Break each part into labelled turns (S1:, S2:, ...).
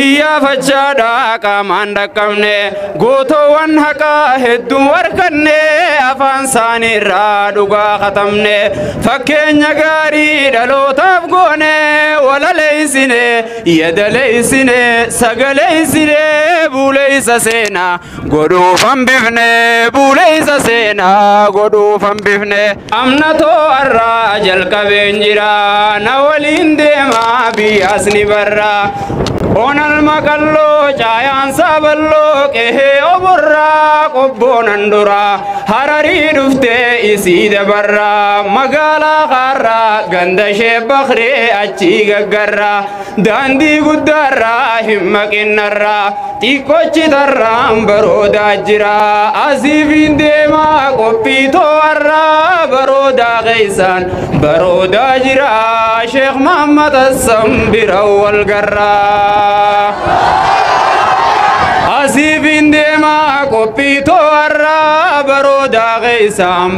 S1: Iyyaafachaa dhaa qaamaan dhaqqabne gootoowwan haqaa hedduu arganne afaan isaanii irraa dhugaa katabne fakkeenya gaarii dhalootaaf goone walaleessine yadaleessine sagaleessine buuleessa seenaa Godhuuf hambifne buuleessa seenaa godhuuf hambifne. Amna too arraa jalqabeen jira na waliin deemaa biyyaas ni barra. Onal maqalloo caayaan saaballoo qehee oborraa qobboonan dura hararii dhuftee isii dabarra magaalaa kaarraa ganda ishee bakree achii gaggarra. Daandii guddaarraa hin maqinarraa xiqqochi tarraan baroodaa jira asiifiin deemaa qophii too'arraa baroodaa keessaan baroodaa jira sheekh Muhammad Hassan bira wal garraa. Asiifiin deemaa qophii too'arraa baroodaa keessaan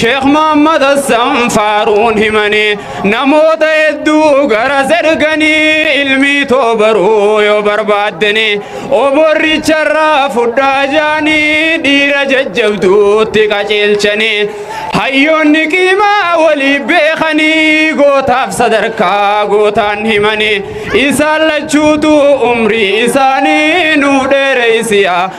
S1: Sheekh Muhammad Hassan Faaruun himanii namoota hedduu gara erganii ilmii too baruu yoo barbaaddanii oborricharraa fudhaa jaanii dhiira jajjabduutti qajeelchanii hayyoonni qiimaa walii beekanii gootaaf sadarkaa gootaan himanii isaan lachuutu umrii isaanii nuuf dheereysiyaa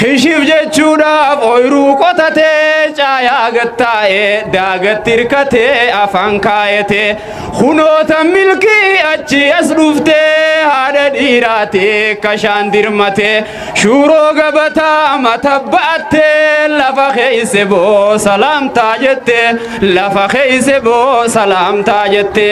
S1: Kishif jechuudhaaf ooyiruu qotatee caayaa gattaa'ee daagatti hirkatee afaan kaayatee kunoota milkii achi as dhuftee haadha dhiiraatee kashaan dirmatee shuuroo gabataa mata ba'attee lafa keesse boo salaamtaa jettee lafa keeyse boo salaamtaa jette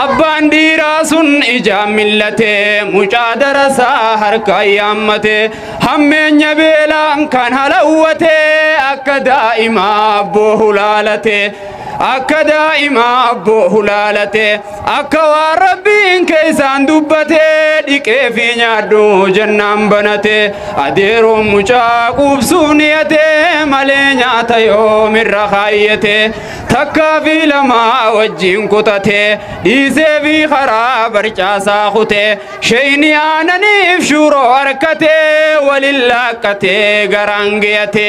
S1: abbaan dhiiraa sun ijaan millate mucaa darasaa harka yaammate hammeenya beelaan kan halawwate akka daa'imaa abboo hulaalate Akka daa'ima abboo hulaalate akka waan rabbiin keessaan dubbate dhiqee fi nyaadhu jennaan banate adeeroon mucaa quubsuu niyate malee nyaata yoomirra kaayyate takkaa fi lamaa wajjin kutate dhiisee fi karaa barcaasaa kute sheeyni aananiif shuuroo harkate waliin laakkate garaan giyate.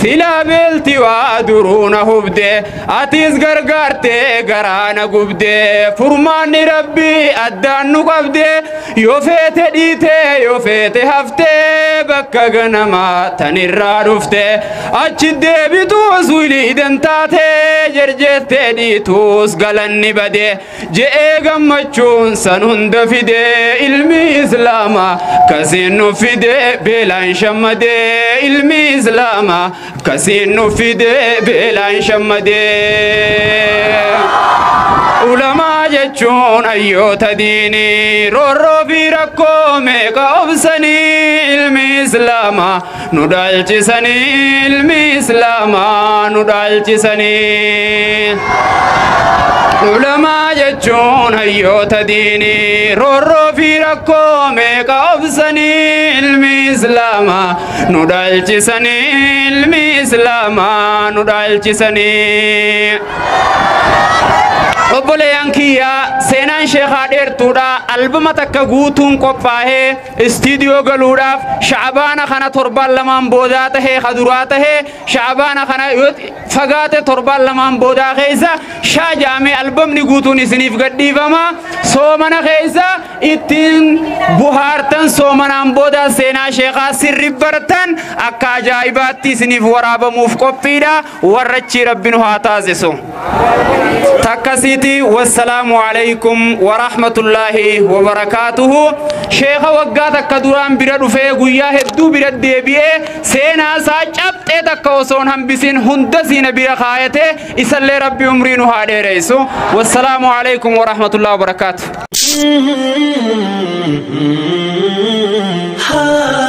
S1: Silaa beelti waa duruu na hubde atiis gargaartee garaa na gubde furmaanni rabbii addaan nu qabde yoo feete dhiite yoo feete hafte bakka ganama tanirraa dhufte achi deebituus wiliiden taate jerjeettee dhiituus galanni bade. Je'ee gammachuun san hunda fidee ilmi islaama kasiin nu fidee beelaan shammadee ilmi islaama kasiin nu fidee beelaan shammadee. Ulamaa jechuun hayyoota diinii roorroo fi rakkoo meeqa obsanii ilmi islaama Nu dhaalchisanii ilmi islaamaa nu dhaalchisanii. Ulamaa jechuun hayyoota diinii roorroo fi rakkoo meeqa obsanii ilmi islaamaa nu dhaalchisanii ilmi islaamaa nu dhaalchisanii. Obboleeyyan kiyyaa seenaan sheekaa dheertuudha albama takka guutuun qophaa'ee Istiidiyoo galuudhaaf sha'abaana kana torbaan lamaan boodaa tahee ka duraa tahee sha'abaana kana yoo fagaate torbaan lamaan boodaa keessa shaa jaamee albamni guutuun isiniif gadhiifama soomana keessa ittiin buhaartan soomanaan boodaa seenaa sheekaa sirri bartan akka ajaa'ibaatti isiniif waraabamuuf qophiidha. warra achii rabbi nu haa taasisu takkasiiti wassalaamu alaykum warahmatullaahi wabarakaatuhu sheeka waggaa takka duraan bira dhufee guyyaa hedduu bira deebi'ee seenaa isaa cabxee takka osoon hambisin hunda siina bira kaayate isallee rabbi umrii nu haa dheereysu wassalaamu alaykum warahmatullaahi wabarakaatuhu Ah